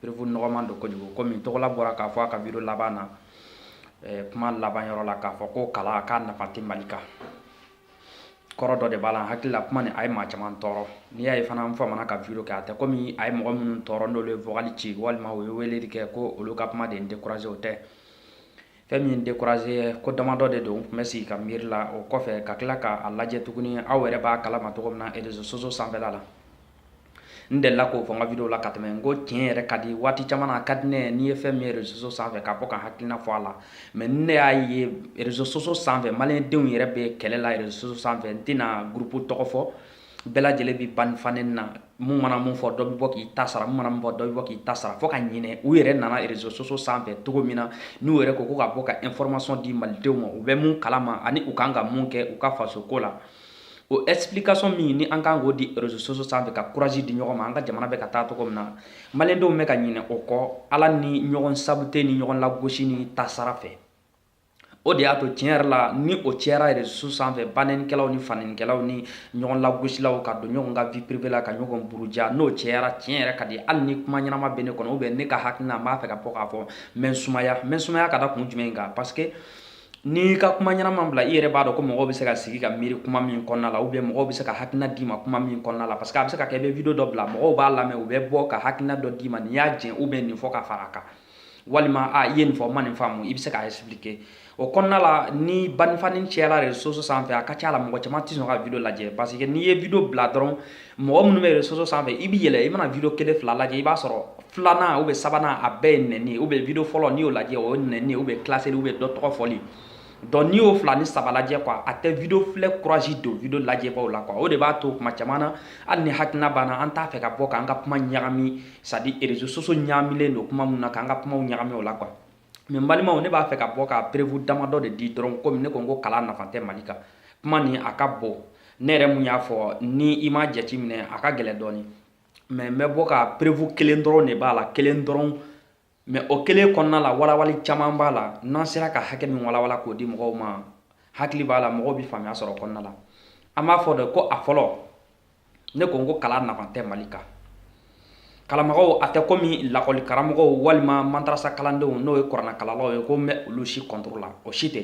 preuve nɔgɔman don kojugu komi tɔgɔla bɔra k'a fɔ a ka video laban na eh, kuma laban yɔrɔ la k'a fɔ ko kalan k'a nafa tɛ mali kan kɔrɔ dɔ de b'a la n hakili la kuma nin a ye maa caman tɔɔrɔ n'i y'a ye fana n famana ka video kɛ a tɛ komi a ye mɔgɔ minnu tɔɔrɔ n'olu ye vocal ci walima u ye weleli kɛ ko olu ka kuma de ye n découragé o tɛ fɛn min ye n découragé ko damadɔ de don n tun bɛ sigi ka miiri la o kɔfɛ ka tila ka a lajɛ tuguni aw yɛrɛ b'a kalama cogo min na réseaux sociaux sanfɛla la n delila k'o fɔ n ka video la ka tɛmɛ n ko tiɲɛ yɛrɛ ka di waati caman a ka di ne ye n'i ye fɛn min ye réseaux sociaux sanfɛ ka bɔ ka hakilina fɔ a la mais ne y'a ye réseaux sociaux sanfɛ maliyɛndenw yɛrɛ bɛ kɛlɛ la réseaux sociaux sanfɛ n tɛna gurupu tɔgɔ fɔ bɛɛ lajɛlen bɛ banɛni fanɛni na mun mana mun fɔ dɔ bɛ bɔ k'i ta sara mun mana mun fɔ dɔ bɛ bɔ k'i ta sara fo ka ɲinɛ u yɛrɛ nana réseaux sociaux sanfɛ cogo min na n'u yɛrɛ ko ko ka bɔ ka information di malidenw ma u bɛ mun kalama ani u kan ka mun kɛ u ka faso ko la o explication min ni an kan k'o di réseaux sociaux sanfɛ ka courage di ɲɔgɔn ma an ka jamana bɛ ka taa cogo min na maliyɛndenw bɛ ka ɲinɛ o kɔ ala ni ɲɔgɔn saboter ni ɲɔgɔn lagosi ni tasara fɛ o de y'a to tiɲɛ yɛrɛ la ni o cɛyara réseaux sociaux sanfɛ banɛnikɛlaw ni fanɛnikɛlaw ni ɲɔgɔn lagosilaw ka don ɲɔgɔn ka vie privée la ka ɲɔgɔn buruja n'o cɛyara tiɲɛ yɛrɛ ka di hali ni kuma ɲɛnama bɛ ne kɔnɔ ou bien ne ka hakilina n b'a fɛ ka bɔ k'a fɔ n bɛ n sumaya n bɛ n sumaya ka da kun jumɛn kan parce que n'i ka kuma ɲɛnama bila i yɛrɛ b'a dɔn ko mɔgɔ bɛ se ka sigi ka miiri kuma min kɔnɔna la ou bien mɔgɔ bɛ se ka hakilina d'i ma kuma min kɔnɔna la parce que a bɛ se ka kɛ i bɛ video dɔ bila mɔgɔw b'a lamɛn u bɛ bɔ ka hakilina dɔ d'i ma nin y'a jɛn ou bien nin fɔ ka fara a kan walima i ye nin fɔ n ma nin faamu i bɛ se k'a expliquer o kɔnɔna la ni banɛni fanɛni cɛla réseaux sociaux sanfɛ a ka ca la mɔgɔ caman tɛ sɔn ka video lajɛ parce que n'i ye video bila dɔrɔn mɔgɔ minnu bɛ réseaux sociaux sanfɛ i bɛ yɛlɛ i mana video kelen fila lajɛ i b'a sɔrɔ filanan ou bien sabanan a bɛɛ ye nɛni ye ou bien video fɔlɔ n'i y'o lajɛ o ye nɛni ye ou bien clasheli ou bien dɔ tɔgɔ fɔli donc n'i y'o fila ni saba lajɛ quoi a tɛ video filɛ courage don video lajɛbaw la quoi o de b'a to kuma caman na hali ni hakilina b'an na an t'a fɛ ka bɔ k'an ka kuma ɲagami c'est à dire réseaux sociaux ɲagamilen don kuma min na k'an ka kumaw ɲagami o la quoi mais n balimaw ne b'a fɛ ka bɔ ka preuve damadɔ de di dɔrɔn komi ne ko n ko kalan nafa tɛ mali kan kuma nin a ka bon ne yɛrɛ mun y'a fɔ ni i m'a jateminɛ a ka gɛlɛn dɔɔni mais n bɛ bɔ ka preuve kelen dɔrɔn de b'a la kelen dɔrɔn mais o kelen kɔnɔna la walawali caman b'a la n'an sera ka hakɛ min walawala k'o di mɔgɔw ma hakili b'a la mɔgɔw bɛ faamuya sɔrɔ o kɔnɔna la an b'a fɔ de ko a fɔlɔ ne ko n ko kalan nafa tɛ mali kan kalanbagaw a tɛ komi lakɔli karamɔgɔw walima madarasa kalandenw n'o ye kuranɛkalannaw ye ko n bɛ olu si contre la o si tɛ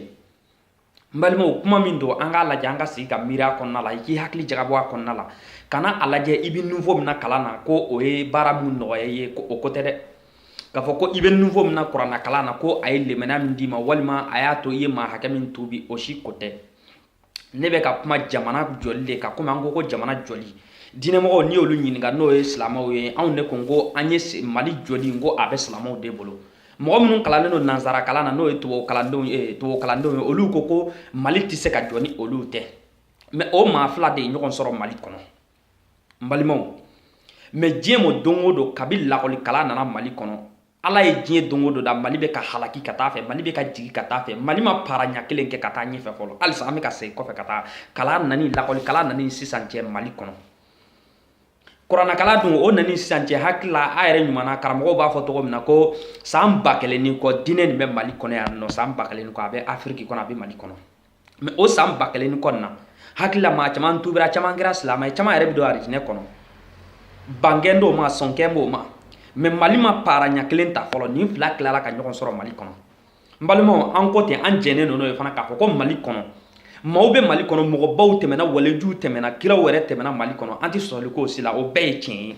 n balimaw kuma min don an k'a lajɛ an ka sigi ka miiri a kɔnɔna la i k'i hakili jagabɔ a kɔnɔna la kana a lajɛ i bɛ niveau min na kalan na ko o ye baara min nɔgɔya i ye ko o ko tɛ dɛ k'a fɔ ko i bɛ niveau min na kuranɛkalan na ko a ye limaniya min d'i ma walima a y'a to i ye maa hakɛ min tuubi o si ko tɛ ne bɛ ka kuma jamana jɔli de kan komi an ko ko jamana jɔli diinɛmɔgɔw n'i y'olu ɲininka n'o ye silamɛw ye anw de ko n ko an ye mali jɔli n ko a bɛ silamɛw de bolo mɔgɔ minnu kalannen don nansara kalan na n'o ye tubabu kalandenw ye olu ko ko mali tɛ se ka jɔ ni olu tɛ mɛ o maa fila de ye ɲɔgɔn sɔrɔ mali kɔnɔ n balimaw mɛ diɲɛ mɔ don o don kabi lakɔli kalan nana mali kɔnɔ ala ye diɲɛ don o don da mali bɛ ka halaki ka taa fɛ mali bɛ ka jigi ka taa fɛ mali ma paara ɲɛ kelen kɛ ka taa ɲɛfɛ fɔlɔ halisa an bɛ ka segin kɔfɛ ka taa kalan nani lakɔli kalan nani sisan cɛ mali kɔnɔ kuranakalan dun o nani sisan cɛ hakili la a yɛrɛ ɲuman na karamɔgɔw b'a fɔ cogo min na ko san ba kelen ni kɔ diinɛ nin bɛ mali kɔnɔ yan nɔ san ba kelen ni kɔ a bɛ afiriki kɔnɔ a bɛ mali kɔnɔ mɛ o san ba kelen ni kɔ nin na hakili la maa caman tubira caman kɛra silama ye caman yɛrɛ bɛ don arijinɛ kɔnɔ bankan t'o ma sɔnkan b'o ma mɛ mali ma paara ɲɛ kelen ta fɔlɔ nin fila tilara ka ɲɔgɔn sɔrɔ mali kɔnɔ n balimaw an ko ten an jɛnnen don n'o ye fana k'a fɔ ko mali kɔnɔ maaw bɛ mali kɔnɔ mɔgɔbaw tɛmɛna walejuw tɛmɛna kiraw yɛrɛ tɛmɛna mali kɔnɔ an tɛ sɔsɔli k'o si la o bɛɛ ye tiɲɛ ye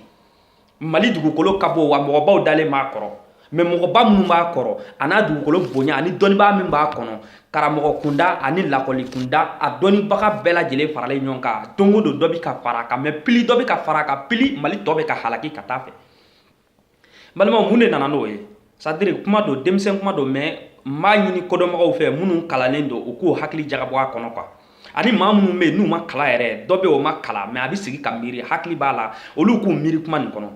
mali dugukolo ka bon wa mɔgɔbaw dalen b'a kɔrɔ mɛ mɔgɔba minnu b'a kɔrɔ a n'a dugukolo bonya ani dɔnnibaa min b'a kɔnɔ karamɔgɔ kunda ani lakɔli kunda a dɔnnibaga bɛɛ lajɛlen faralen ɲɔgɔn kan don o don dɔ bɛ ka fara a kan mɛ pili dɔ bɛ ka fara a kan pili mali tɔ bɛ ka halaki ka taa fɛ balimaw mun de nana n'o ye sadiri kuma don denmisɛn kuma don mɛ n b'a ɲini kodɔnbagaw fɛ minnu kalannen don u k'u hakili jagabɔ a kɔnɔ kuwa ani maa minnu bɛ yen n'u ma kalan yɛrɛ dɔ bɛ o ma kalan mɛ a bɛ sigi ka miiri hakili b'a la olu k'u miiri kuma nin kɔnɔ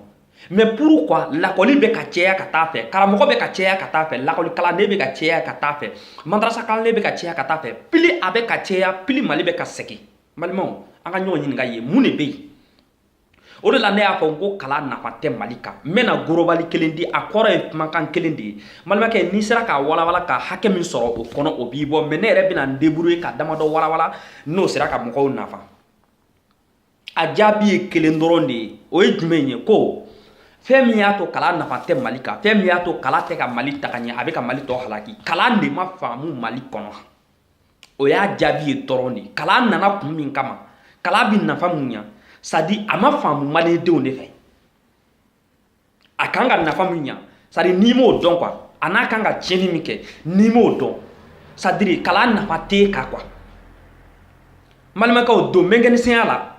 mɛ purukuwa lakɔli bɛ ka cɛya ka taa fɛ karamɔgɔ bɛ ka cɛya ka taa fɛ lakɔli kalanden bɛ ka cɛya ka taa fɛ madarasa kalanden bɛ ka cɛya ka taa fɛ pili a bɛ ka cɛya pili mali bɛ ka segin balimaw an ka ɲɔgɔn ɲininka ye mun de bɛ yen o de la ne y'a fɔ n ko kalan nafa tɛ mali kan n bɛna gorobali kelen di a kɔrɔ ye kumakan kelen de ye balimakɛ n'i sera k'a walawala ka hakɛ min sɔrɔ o kɔnɔ o b'i bɔ mɛ ne yɛrɛ bɛna n deburuye ka damadɔ walawala n'o sera ka mɔgɔw nafa a jaabi ye kelen dɔrɔn de ye o ye jumɛn ye ko fɛn min y'a to kalan nafa tɛ mali kan fɛn min y'a to kalan tɛ ka mali taga ɲɛ a bɛ ka mali tɔ halaki kalan de ma faamu mali kɔnɔ o y'a jaabi ye dɔrɔn de kalan nana kun min kama kalan bi nafa mun ɲa sadi a ma faamu malidenw de fɛ a kan ka nafa min ɲa sadi n'i m'o dɔn kuwa a n'a kan ka tiɲɛni min kɛ n'i m'o dɔn sadiri kalan nafa t'e kan kuwa balimakɛw don mɛnkɛnisɛnya la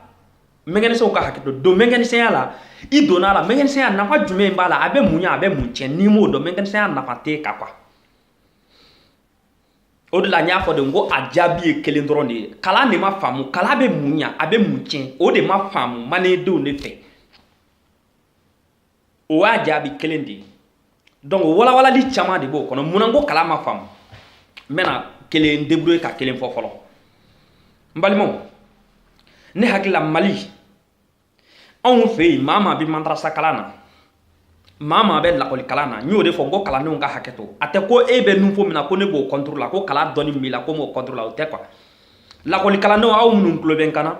mɛnkɛnisɛnw ka hakɛ to don mɛnkɛnisɛnya la i donna a la mɛnkɛnisɛnya nafa jumɛn b'a la a bɛ mun ɲa a bɛ mun tiɲɛ n'i m'o dɔn mɛnkɛnisɛnya nafa t'e kan kuwa o de la n y'a fɔ de n ko a jaabi ye kelen dɔrɔn de ye kalan de ma faamu kalan bɛ mun ɲa a bɛ mun tiɲɛ o de ma faamu mandendenw de fɛ o y'a jaabi kelen de ye donc walawalali caman de b'o kɔnɔ munna n ko kalan ma faamu n bɛna kelen débrouiller ka kelen fɔ fɔlɔ n balimaw ne hakili la mali anw fɛ yen maa maa bɛ mantarasa kalan na maa maa bɛ lakɔli kalan na n y'o de fɔ n ko kalandenw ka hakɛ to a tɛ ko e bɛ niveau min na ko ne b'o contre la ko kalan dɔnni b'i la ko m'o contre la o tɛ quoi lakɔli kalandenw aw minnu tulo bɛ n kan na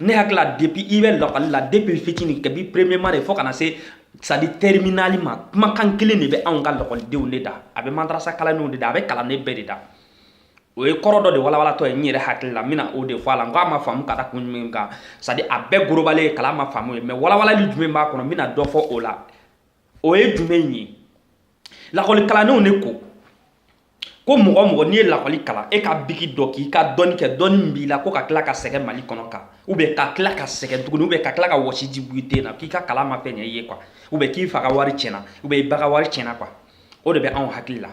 ne hakili la depuis i bɛ lakɔli la depuis fitini kabi premièrement de fo ka na se c'est à dire terminale ma kumakan kelen de bɛ anw ka lakɔlidenw de da a bɛ mantarasa kalandenw de da a bɛ kalanden bɛɛ de da o ye kɔrɔ dɔ de walawalatɔ ye n yɛrɛ hakili la n bɛna o de fɔ a la n ko a ma faamu ka da kun jumɛn kan c'est à dire a bɛɛ gorobalen ye kalan ma faamu ye mais walawalali jumɛn b'a kɔnɔ n bɛna dɔ fɔ o la o ye jumɛn ye lakɔli kalandenw de ko ko mɔgɔ mɔgɔ n'i ye lakɔli kalan e ka biki dɔn k'i ka dɔnni kɛ dɔnni min b'i la ko ka tila ka sɛgɛn mali kɔnɔ kan ou bien ka tila ka sɛgɛn tuguni ou bien ka tila ka wɔsiji bɔ i ten na k'i ka kalan ma fɛn ɲɛ i ye quoi ou bien k'i fa ka wari tiɲɛna ou bien i ba ka wari tiɲɛna quoi o de bɛ anw hakili la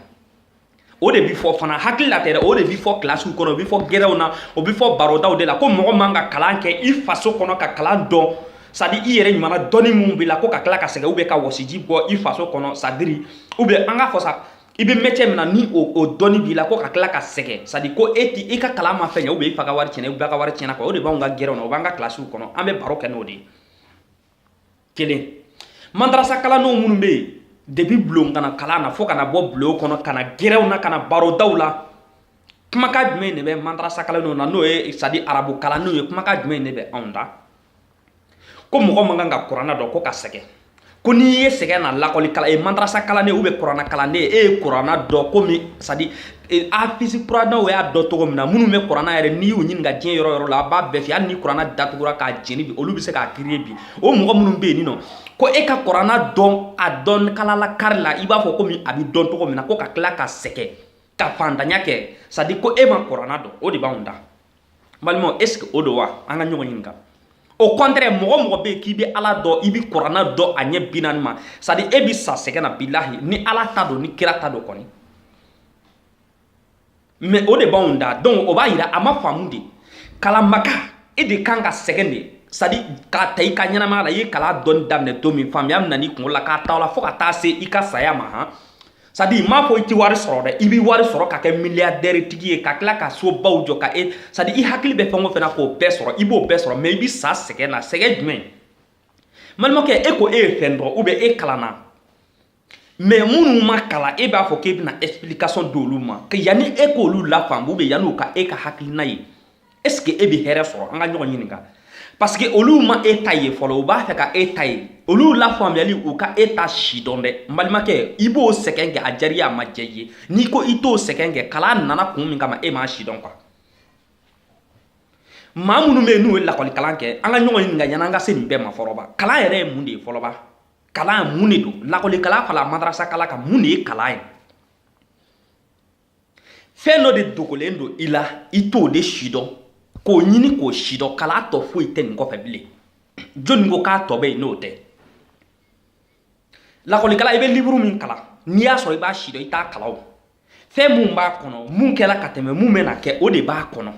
o de bi fɔ fana hakili la tɛ dɛ o de bi fɔ kilasiw kɔnɔ o bi fɔ gɛrɛw na o bi fɔ barodaw de la ko mɔgɔ man ka kalan kɛ i faso kɔnɔ ka kalan dɔn c'est à dire i yɛrɛ ɲumanna dɔnni minnu b'i la ko ka tila ka sɛgɛn ou bien ka wɔsiji bɔ i faso kɔnɔ c'est à dire ou bien an ka fɔ sa i bɛ métier min na ni o o dɔnni b'i la ko ka tila ka sɛgɛn c'est à dire ko e ti i ka kalan ma fɛn ɲɛ ou bien i fa ka wari tiɲɛna i ba ka wari tiɲɛna quoi o de b'anw ka gɛrɛw na o b'an ka kilasiw kɔnɔ an bɛ baro kɛ n'o de ye kelen mandarasa kalandenw minnu bɛ yen depuis bulon ka na kalan na fo ka na bɔ bulon kɔnɔ ka na gɛrɛw na ka na barodaw la kumakan jumɛn de bɛ mandarasa kalandenw na n'o ye c'est à dire arabu kalandenw ye kumakan jumɛn de bɛ anw da ko mɔgɔ man kan ka kuranna dɔn ko ka sɛgɛn ko n'i ye sɛgɛn na lakɔli kalan ye mandarasa kalanden ou bien kuranna kalanden e ye kuranna dɔn komi c'est à dire E, hafisi kuranaw y'a dɔn cogo min na minnu bɛ kuranna yɛrɛ n'i y'u ɲininka diɲɛ yɔrɔ yɔrɔ la a b'a bɛɛ fɛ hali ni kuranna datugura k'a jeni bi olu bɛ se k'a créer bi o mɔgɔ minnu bɛ yen nin nɔ ko e ka kuranna dɔn a dɔn kalala kari la i b'a fɔ komi a bɛ dɔn cogo min na ko ka tila ka sɛgɛn ka fantanya kɛ c'est à dire ko e ma kuranna dɔn o de b'anw da balimaw est ce que o don wa an ka ɲɔgɔn ɲininka au contraire mɔgɔ o mɔgɔ bɛ yen k'i bɛ ala dɔn i bɛ kuranna dɔn a ɲɛ binaani ma c'est à dire e bɛ sa sɛgɛn na bilahi ni ala ta don ni kira ta don kɔni mais o de b'anw da donc o b'a yira a ma faamu de kalanbaga e de kan ka sɛgɛn de c'est à dire k'a ta i ka ɲɛnamaya la i ye kalan dɔnni daminɛ don min faamuya min nan'i kunkolo la k'a ta o la fo ka taa se i ka saya ma han sadi m'a fɔ i ti wari sɔrɔ dɛ i bɛ wari sɔrɔ ka kɛ miliyadɛri tigi ye ka tila ka so baw jɔ ka e sadi i hakili bɛ fɛn o fɛn na k'o bɛɛ sɔrɔ i b'o bɛɛ sɔrɔ mɛ i bɛ sa sɛgɛn na sɛgɛn jumɛn balimakɛ e ko e ye fɛn dɔn ubiyɛn e kalanna mɛ minnu ma kalan e b'a fɔ k'e bɛna ɛsipilikasɔn d'olu ma yanni e k'olu lafaamu ubiyɛn yanni u ka e ka hakilina ye est ce que e bɛ hɛrɛ sɔrɔ an ka ɲɔgɔn ɲininka parce que olu ma e ta ye fɔlɔ u b'a fɛ ka e ta ye olu lafaamuyali u ka e ta sidɔn dɛ n balimakɛ i b'o sɛgɛn kɛ a diyara a ma diya i ye n'i ko i t'o sɛgɛn kɛ kalan nana kun min kama e m'a sidɔn quoi maa minnu bɛ yen n'u ye lakɔlikalan kɛ an ka ɲɔgɔn ɲininka yanni an ka se nin bɛɛ ma fɔlɔ ba kalan yɛrɛ ye mun de ye fɔlɔ ba kalan mun de don lakɔlikalan fara madarasa kalan kan mun de ye kalan ye fɛn dɔ de dogolen don i la i t'o de sidɔn k'o ɲini k'o sidɔn kalan tɔ foyi tɛ nin kɔfɛ bilen jɔnni ko k'a tɔ bɛ yen n'o tɛ lakɔlikalan i bɛ liburu min kalan n'i y'a sɔrɔ i b'a sidɔn i t'a kalan o fɛn mun b'a kɔnɔ mun kɛra ka tɛmɛ mun bɛna kɛ o de b'a kɔnɔ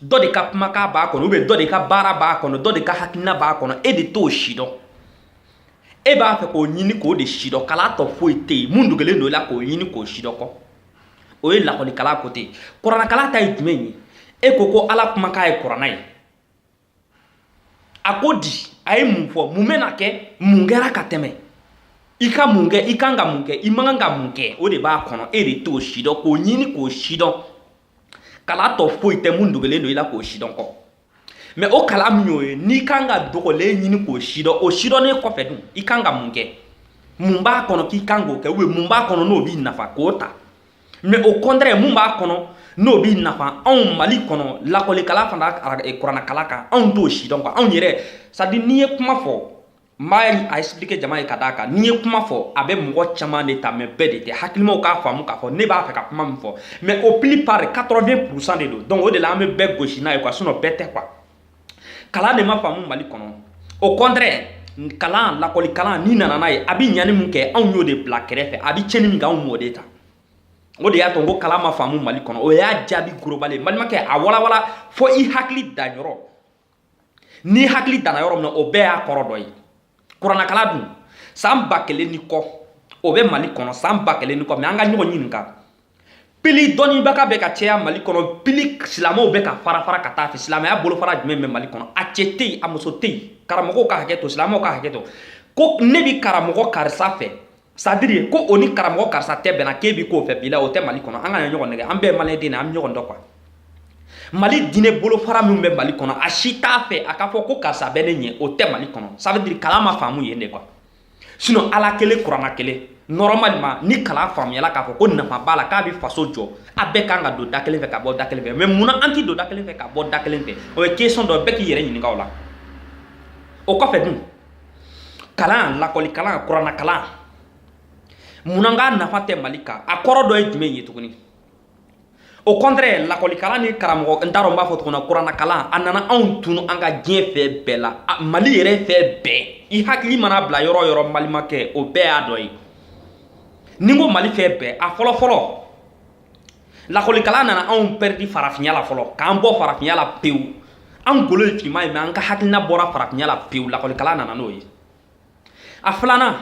dɔ de ka kumakan b'a kɔnɔ ubiyɛn dɔ de ka baara b'a kɔnɔ dɔ de ka hakilina b'a kɔnɔ e de t'o sidɔn e b'a fɛ k'o ɲini k'o de sidɔn kalan tɔ foyi tɛ yen mun dogolen don i la k'o ɲini k'o sidɔn kɔ o ye lakɔlikalan côté ye kuranakalan ta ye jumɛn ye e ko ko ala kumakan ye kurana ye a ko di a ye mun fɔ mun bɛna kɛ mun kɛra ka tɛmɛ i ka mun kɛ i kan ka mun kɛ i man kan ka mun kɛ o de b'a kɔnɔ e de t'o sidɔn k'o ɲini k'o sidɔn kalan tɔ foyi tɛ mun dogolen don i la k'o sidɔn kɔ mɛ o kalan min y'o ye n'i kan ka dogolen ɲini k'o sidɔn o sidɔnnen kɔfɛ dun i kan ka mun kɛ mun b'a kɔnɔ k'i kan k'o kɛ ubiyɛn mun b'a kɔnɔ n'o b'i nafa k'o ta mɛ o kɔntrɛ mun b'a kɔnɔ n'o b'i nafa anw mali kɔnɔ lakɔlikalan fara kuranakalan kan anw t'o sidɔn quoi anw yɛrɛ sadi n'i ye kuma fɔ n b'a expliquer jama ye ka d'a kan n'i ye kuma fɔ a bɛ mɔgɔ caman de ta mɛ bɛɛ de tɛ hakilimaw k'a faamu k'a fɔ ne b'a fɛ ka kuma min fɔ mɛ au plupart 80 pourcent de don donc o de la an bɛ bɛɛ gosi n'a ye quoi sinon bɛɛ tɛ quoi kalan de ma faamu mali kɔnɔ o kɔntrɛ kalan lakɔli kalan n'i nana n'a ye a bɛ ɲani min kɛ anw y'o de bila kɛrɛfɛ a bɛ cɛni min kɛ anw m'o de ta o de y'a to n ko kalan ma faamu mali kɔnɔ o y'a jaabi gorobali ye balimakɛ a walawala fo i hakili danyɔrɔ n'i hakili danna yɔrɔ min na o bɛɛ y'a kɔrɔ dɔ ye kuranakalan dun san ba kelen ni kɔ o bɛ mali kɔnɔ san ba kelen ni kɔ mɛ an ka ɲɔgɔn ɲininka pili dɔnnibaga bɛ ka caya mali kɔnɔ pili silamɛw bɛ ka fara fara ka taa fɛ silamɛya bolofara jumɛn bɛ mali kɔnɔ a cɛ tɛ yen a muso tɛ yen karamɔgɔw ka hakɛ to silamɛw ka hakɛ to ko ne bi karamɔgɔ karisa fɛ c'est à dire ko o ni karamɔgɔ karisa tɛ bɛnna k'e bi k'o fɛ bi la o tɛ mali kɔnɔ an kana ɲɔgɔn nɛgɛn an bɛɛ maliyɛn den na an bɛ ɲɔgɔn dɔn quoi mali diinɛ bolofara min bɛ mali kɔnɔ a si t'a fɛ a k'a fɔ ko karisa bɛ ne ɲɛ o tɛ mali kɔnɔ ça veut dire kalan ma faamu yen de quoi sinon ala kelen kurana kelen normalement ni kalan faamuyala k'a fɔ ko nafa b'a la k'a bɛ faso jɔ a bɛɛ kan ka don da kelen fɛ ka bɔ da kelen fɛ mais munna an tɛ don da kelen fɛ ka bɔ da kelen fɛ o ye question dɔ bɛɛ k'i yɛrɛ ɲininka o la o kɔfɛ dun kalan lakɔli kalan kurana kalan mun na k'a nafa tɛ mali kan a kɔrɔ dɔ ye jumɛn ye tuguni au contraire lakɔli kalan ni karamɔgɔ n t'a dɔn n b'a fɔ tuguni kurana kalan a nana anw tunu an ka diɲɛ fɛn bɛɛ la mali yɛrɛ fɛn bɛɛ i hakili mana bila yɔrɔ o yɔrɔ mali ma kɛ o bɛɛ y'a dɔ ye ni n ko mali fɛn bɛɛ a fɔlɔ fɔlɔ lakɔlikalan nana anw pɛridi farafinya la fɔlɔ k'an bɔ farafinya la pewu an golo ye finman ye mais an ka hakilina bɔra farafinya la pewu lakɔlikalan nana n'o ye a filanan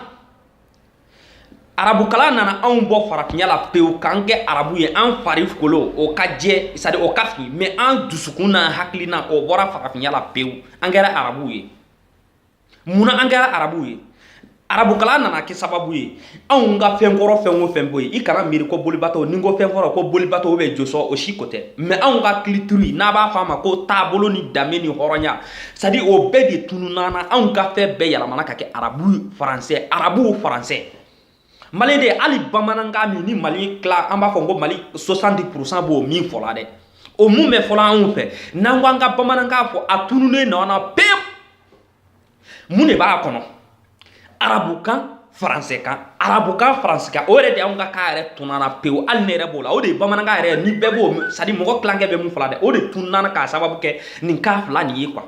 arabukalan nana anw bɔ farafinya la pewu k'an kɛ arabu ye an fari golo o ka jɛ c'est à dire o ka fin mais an dusukun n'an hakilina o bɔra farafinya la pewu an kɛra arabu ye mun na an kɛra arabuw ye arabukalan nana kɛ sababu ye anw ka fɛn kɔrɔ fɛn o fɛn bɔ yen i kana miiri ko bolibato ni n ko fɛn kɔrɔ ko bolibato ou bien josɔn o si ko tɛ mais anw ka culture n'a b'a fɔ a ma ko taabolo ni danbe ni hɔrɔnya c'est à dire o bɛɛ de tununna anw ka fɛn bɛɛ yɛlɛmana ka kɛ arabu faransɛ arabuw faransɛ mali de hali bamanankan min ni mali tila an b'a fɔ ko mali soixante-dix pour cent b'o min fɔla dɛ o mun bɛ fɔla anw fɛ n'an ko an ka bamanankan fɔ a tununnen nɔ na pewu mun de b'a kɔnɔ arabukan faransɛkan arabukan faransikan o yɛrɛ de anw ka kan yɛrɛ tununna pewu hali ne yɛrɛ b'o la o de ye bamanankan yɛrɛ ni bɛɛ b'o c'est à dire mɔgɔ tilankɛ bɛ mun fɔla dɛ o de tununna k'a sababu kɛ nin kan fila nin ye quoi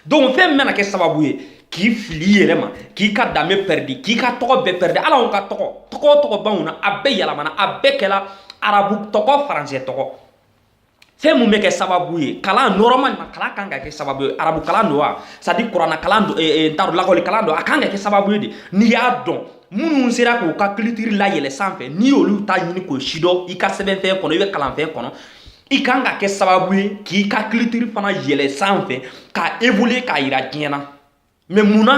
donc fɛn min bɛna kɛ sababu ye k'i fili i yɛrɛ ma k'i ka danbe pɛridi k'i ka tɔgɔ bɛɛ pɛridi hali anw ka tɔgɔ tɔgɔ tɔgɔ b'anw na a bɛɛ yɛlɛmana a bɛɛ kɛla arabu tɔgɔ faransɛ tɔgɔ fɛn mun bɛ kɛ sababu ye kalan normalement kalan kan ka kɛ sababu ye arabu kalan don wa c'est à dire kurana kalan don eh, eh, n t'a dɔn lakɔli kalan don a kan ka kɛ sababu ye de n'i y'a dɔn minnu sera k'u ka culture layɛlɛ sanfɛ n'i y'olu ta ɲini k'o sidɔn i ka sɛbɛnfɛn kɔnɔ i bɛ kalanfɛn kɔnɔ i kan ka kɛ sababu ye k'i ka culture fana yɛlɛ sanfɛ ka évoluer k'a yira diɲɛ na mais mun na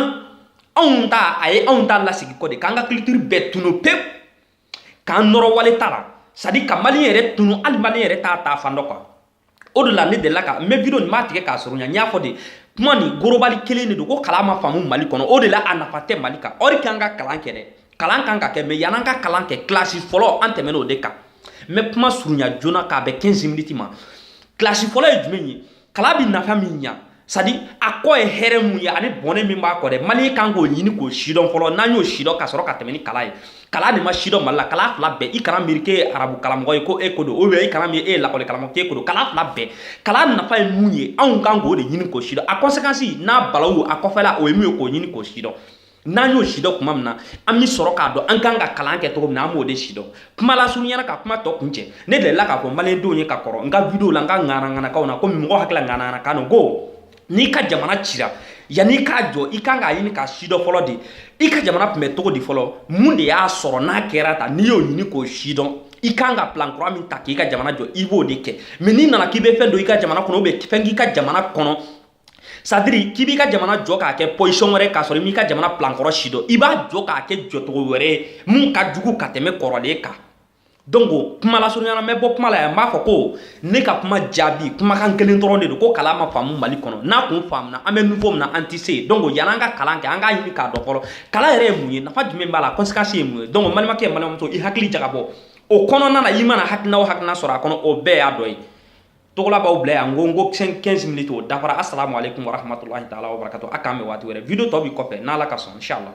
anw ta a ye anw ta lasigi kɔ de k'an ka culture bɛɛ tunu pewu k'an nɔrɔ wali ta la c'est à dire ka maliyɛn yɛrɛ tunu hali maliyɛn yɛrɛ t'a taa fan dɔn quoi o de la ne delila ka n bɛ video nin m'a tigɛ k'a surunya n y'a fɔ de kuma nin global kelen de don ko kalan ma faamu mali kɔnɔ o de la a nafa tɛ mali kan or que an ka kalan kɛ dɛ kalan kan ka kɛ mais yan'an ka kalan kɛ kilasi fɔlɔ an tɛmɛna o de kan n bɛ kuma surunya joona k'a bɛn 15 miniti ma kilasi fɔlɔ ye jumɛn ye kalan bi nafa min ɲa c'est-à-dire a kɔ ye hɛrɛ mun ye ani bɔnɛ min b'a kɔ dɛ maliyɛn kan k'o ɲini k'o sidɔn fɔlɔ n'an y'o sidɔn ka sɔrɔ ka tɛmɛ ni kalan ye kalan de ma sidɔn mali la kalan fila bɛɛ i kana miiri k'e ye arabu kalamɔgɔ ye ko e ko don ou bien i kana miiri e ye lakɔli kalamɔgɔ k'e ko don kalan fila bɛɛ kalan nafa ye mun ye anw kan k'o de ɲini k'o sidɔn a conséquence n'a balawu a kɔfɛla o ye mun ye k'o ɲini k'o sidɔn n'an y'o sidɔn kuma min na an bɛ sɔrɔ k'a dɔn an kan ka kalan kɛ cogo min na an b'o de sidɔn kuma lasurunyana ka kuma tɔ kuncɛ ne delila k'a fɔ maliyɛndenw ye ka kɔrɔ n ka video la n ka ŋanaŋanakanw na komi mɔgɔ hakili la ŋanaŋanakan don ko n'i ka jamana cira yanni i k'a jɔ i kan k'a ɲini k'a sidɔn fɔlɔ de i ka jamana tun bɛ cogo di fɔlɔ mun de y'a sɔrɔ n'a kɛra tan n'i y'o ɲini k'o sidɔn i kan ka plan kura min ta k'i ka jamana jɔ i b'o de kɛ mais n'i nana k'i bɛ fɛn don i ka jamana kɔnɔ ou bien fɛn k'i ka jamana kɔnɔ c'est-à-dire k'i b'i ka jamana jɔ k'a kɛ position wɛrɛ k'a sɔrɔ i m'i ka jamana plan kɔrɔ sidɔn i b'a jɔ k'a kɛ jɔcogo wɛrɛ ye min ka jugu ka tɛmɛ kɔrɔlen kan donc kuma lasurunyana n bɛ bɔ kuma la yan n b'a fɔ ko ne ka kuma jaabi kumakan kelen dɔrɔn de don ko kalan ma faamu mali kɔnɔ n'a kun faamuna an bɛ niveau min na an tɛ se yen donc yanni an ka kalan kɛ an k'a ɲini k'a dɔn fɔlɔ kalan yɛrɛ ye mun ye nafa jumɛn b'a la conséquence ye mun ye donc n balimakɛ n balimamuso i hakili jagabɔ o kɔnɔna na i mana hakilina o hakilina sɔrɔ a kɔnɔ o bɛɛ y'a dɔ ye togola b'aw bila yan n ko n ko 15 minutes o dafara asalamu aleykum warahmatulahi taala wabarakatu a k'an bɛn waati wɛrɛ video tɔ bi kɔfɛ n'ala ka sɔn inshallah